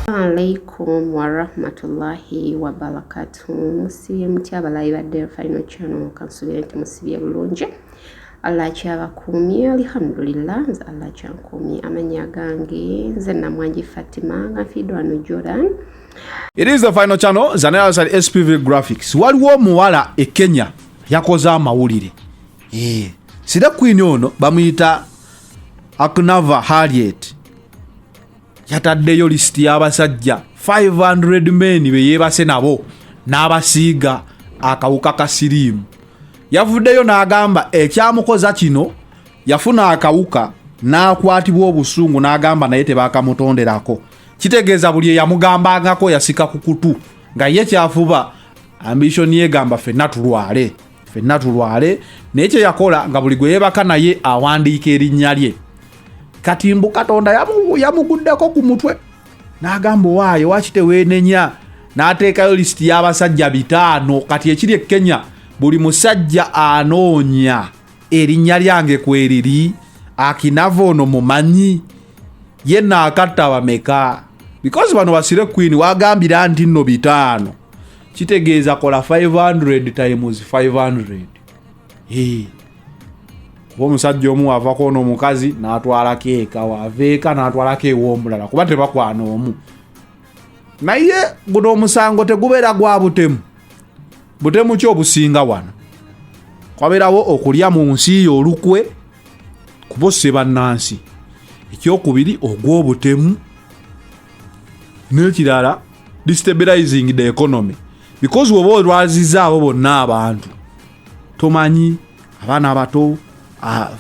alaikum warahmatullahi wabarakatu musibye mutya abalayi ba del final channel kansubire nti musibye bulungi allah akyabakuumye alhamdulillah nze allah akyankuumye amanya gange nze namwanji fatima nga nfiidwa wano jordan it is the final channel zanayasali spv graphics waliwo omuwala e kenya yakoze amawulire Eh, sira queen ono bamuyita aknava harriet yataddeyo lisiti y'abasajja 500 men be yeebase nabo n'abasiiga akawuka ka siriimu yavuddeyo n'agamba ekyamukoza kino yafuna akawuka n'akwatibwa obusungu n'agamba naye tebakamutonderako kitegeeza buli eyamugambangako yasika ku kutu nga ye kyafuba ambishoni yegamba fenna tulwale fenna tulwale naye kyeyakola nga buli gwe yebaka naye awandiika erinnya lye kati mbu katonda yamuguddeko ku mutwe n'agamba owaayo waki teweenenya n'ateekayo lisiti y'abasajja bitaano kati ekiri e kenya buli musajja anoonya erinnya lyange kweriri akinava ono mumanyi ye naakatta bameka bikozi bano basire queen wagambira nti nno bitaano kitegeeza kola 500 times 500 hey. kuba omusajja omu wavako ono omukazi natwalako eka wava eka natwalako ewomulala kuba tebakwana omu naye guno omusango tegubeera gwa butemu butemu ki obusinga wano kwabeerawo okulya mu nsi yo olukwe kuba osse bannansi ekyokubiri ogw'obutemu nekirala destabilizing the economy because woba olwaziza abo bonna abantu tomanyi abaana abato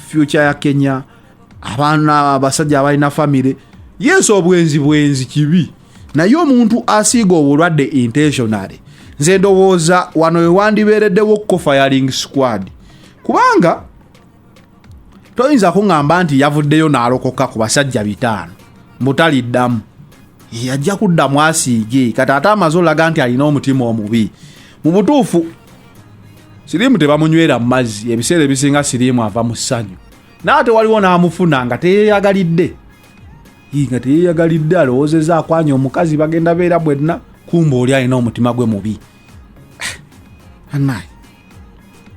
future ya kenya abaana abasajja abalina famire yes obwenzi bwenzi kibi naye omuntu asiiga obulwadde intentionally nze ndowooza wano wewandibeereddewo kofayaling squad kubanga toyinza kuŋŋamba nti yavuddeyo n'alokoka ku basajja bitaano mbutaliddamu yajja kudda mu asiige kati ate amaze olaga nti alina omutima omubi mu butuufu siriimu tebamunywera mu mazzi ebiseera ebisinga siriimu ava mu ssanyu naye ate waliwo n'amufuna nga teyeyagalidde nga teyeyagalidde alowoozeza akwanya omukazi bagenda beera bwenna kumba oli alina omutima gwe mubi ah, anaye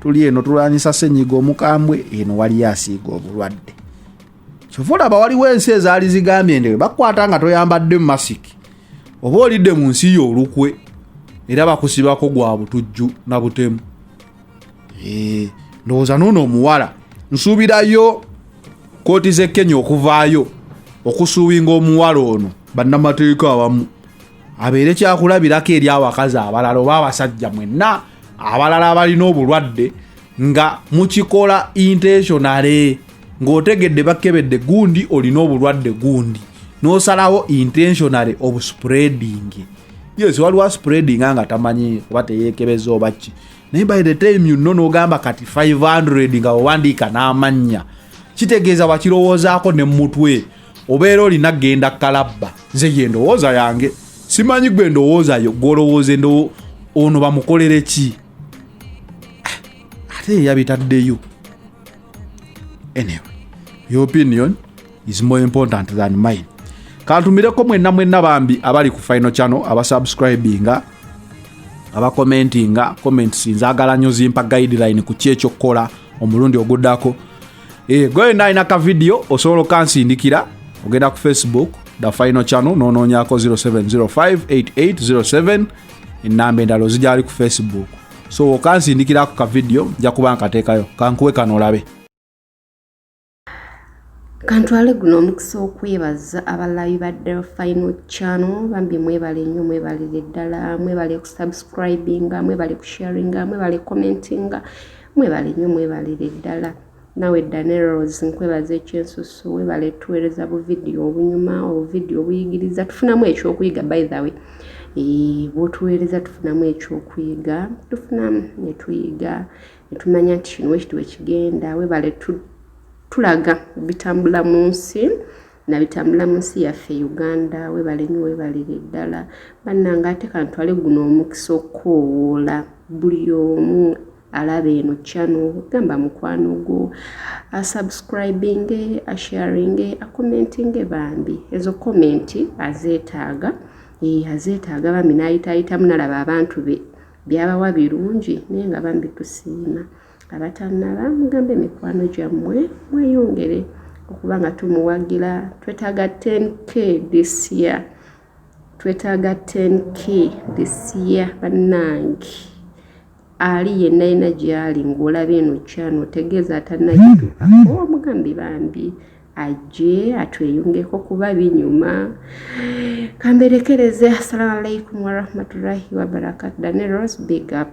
tuli eno tulwanyisa senyiga omukambwe eno waliyo asiiga obulwadde kyova olaba waliwo ensi ezaali zigambye ndewe bakukwata nga toyambadde masiki oba olidde mu nsi yo olukwe era bakusibako gwa butujju na butemu ndowooza noono omuwala nsuubirayo kooti z'e kenya okuvaayo okusuubinga omuwala ono bannamateeka abamu abeere kyakulabirako eri abakazi abalala oba abasajja mwenna abalala abalina obulwadde nga mukikola intentionale ng'otegedde bakkebedde gundi olina obulwadde gundi n'osalawo intentionale obuspreading yes waliwo aspreading nga tamanyi oba teyeekebeza oba ki naye by the time you know n'ogamba kati 500 nga owandiika n'amannya kitegeeza wakirowoozaako ne mutwe obeera olina genda kalabba nze ye endowooza yange simanyi gwe endowooza yo gwolowooza endowo ono bamukolere ki ah, ate yeyabitaddeyo anyway your opinion is more important than mine kantumireko mwenna mwenna bambi abali ku final channel abasubscribinga abakomentinga comments nzagala nyo zimpa guideline ku kyekyokukola omulundi ogudako Eh, gwe yonna alina ka vidiyo osobola okansindikira ogenda ku facebook the final channel nonoonyako 07058807 enamba endala ozigyali ku facebook so okansindikirako ka vidiyo nja kuba nkateekayo kankuwe kano olabe kantwale guno omukisa okwebaza abalabi ba del final channel bambi mwebale nnyo mwebalire ddala mwebale kusubscribinga mwebale kusharinga mwebale commentinga mwebale nyo mwebalire ddala nawe daneros nkwebaza ekyensusu webale tuweereza buvidiyo obunyuma obuvidiyo obuyigiriza tufunamu ekyokuyiga by the way bwotuweereza tufunamu ekyokuyiga tufunamu netuyiga netumanya nti kino wekiti wekigenda webale tulaga bitambula mu nsi nabitambula mu nsi yaffe uganda webale nyo webalire ddala bannanga ate kantwale guno omukisa okukoowoola buli omu alaba eno chano gamba mukwano gwo asubscribinge asharinge akomentinge bambi ezo komenti azeetaaga azeetaaga bambi nayitaayitamu nalaba abantu be byabawa birungi naye nga bambi tusiima abatannaba mugambe mikwano gyammwe mweyongere okuba nga tumuwagira twetaaga 10k this year twetaaga 10k this year bannange ali yenna yena gyali ng'olaba eno kyano otegeeza atannagituukako omugambi bambi ajje atweyungeko kuba binyuma kamberekereze assalamu alaikum warahmatullahi wabarakatu dane rose big up